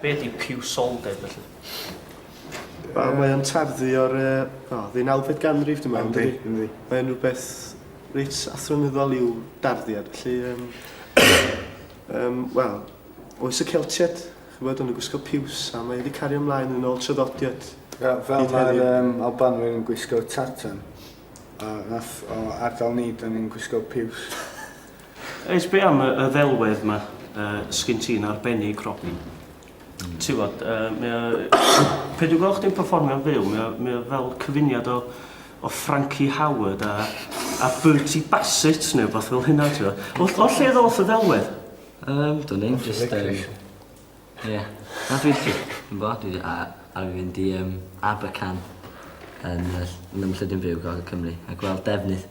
Be ydi piwsoldeb felly? Wel mae o'n tarddu o'r yy o ddeunawfed ganrif dwi me'wl yndydi? Yndi yndi. Mae o'n rwbeth reit athronyddol i'w darddiad felly yym yym wel oes y Celtied ch'bod o'n nhw'n gwisgo piws a mae wedi cario ymlaen yn ôl traddodiad Fel fel mae'r yym Albanwyr yn gwisgo tartan a nath o ardal ni 'dan ni'n gwisgo piws. Oes, be am y, y ddelwedd yma uh, sgyn ti'n arbennig, Robin? Mm. Ti'n bod, uh, mae o... Pe dwi'n gweld chdi'n performio'n fyw, mae o, mae o fel cyfuniad o, o Frankie Howard a, a Bertie Bassett neu beth fel hynna, ti'n bod. O, o lle ddoth y ddelwedd? Um, dwi'n ddim, just... Um, Ie. Yeah. Na, dwi'n ffi. Dwi'n bo, dwi a, a fi fynd i um, Abercan yn, yn ymllyd yn byw Gogol Cymru a gweld defnydd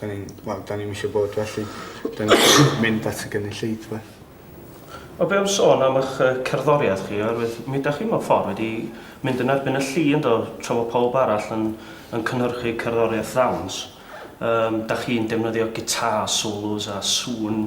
Da ni'n, wel, da ni'm eisiau bod felly. Da ni'n mynd at y gynulleidfa. O be am sôn am ych cerddoriaeth chi, oherwydd mi da chi mewn ffordd wedi mynd yn erbyn y llu yn do, tra fod pawb arall yn, yn cynhyrchu cerddoriaeth ddawns. Um, da chi'n defnyddio gitar solos a sŵn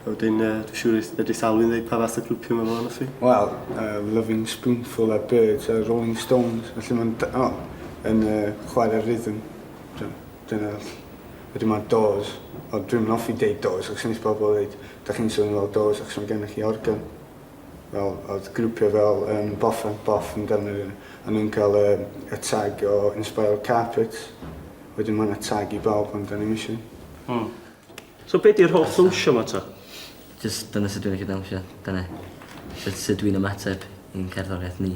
A wedyn yy dwi siŵr i fedru sawl un ddeud pa fath o grwpio ma' fo onoch chi? Wel yy Loving Spoonful a Birds a Rolling Stones felly ma'n d- o yn yy chware rhythm dy- dyna ll- wedyn ma' Doors ond dwi'm yn offi deud Doors achos nes pobol ddeud dach chi'n swnio fel Doors achos ma' gennych chi organ fel odd grwpia fel yym Boff and Boff yn defnydd yy a nw'n ca'l yy y tag o Inspiral Carpets wedyn ma' 'na tag i bawb ond 'dan ni'm isie. Hmm. So be di'r holl ddwnsio ma ta? Jyst dyna sut dwi'n licio dawnsio. Dyna sut sut dwi'n ymateb i'n cerddoriaeth ni.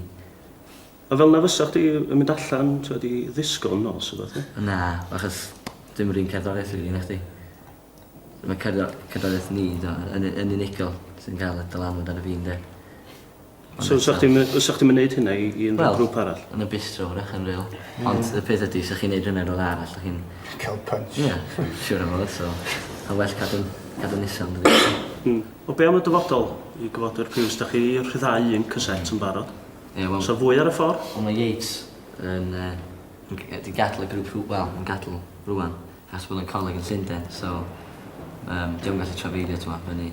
A fel na fysa chdi yn mynd allan t'wod i ddisgo yn nos a betha? Na, achos dim yr un cerddoriaeth rili na chdi. Ma' cerddor- cerddoriaeth ni t'mo' yn u- yn unigol sy'n ca'l y dylanwad arno fi ynde? So fysa chdi'n my- fysa chdi'n mynd neud hynna i i unrhyw Wel, grŵp arall? yn y bistro wrach yn real. Ond y peth ydi, os ych chi'n neud hynna i rywle arall, dych chi'n... Cael punch. Ie, siwr o fod, so... A well cadw'n cadw'n isel yn dydi? Hmm. O be' am y dyfodol? I gyfodyr piws, dach chi rhyddhau un cassette yn barod. Ie, wel... Sa fwy ar y ffor? Wel mae Yates yn yy yn g- yy 'di gadl y grŵp rw- wel, yn gadl rŵan. Achos bod o'n coleg yn Llunden, so... Yym, 'di o'm gallu trafeilio t'mo' fyny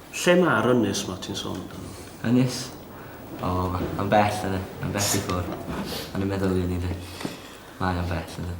Lle mae'r ynys 'ma ti'n sôn amdano? Ynys? O, mae'n bell, yn bell i ffwrdd. O'n i'n meddwl i fyny 'de. Mae o'n bell, yndi.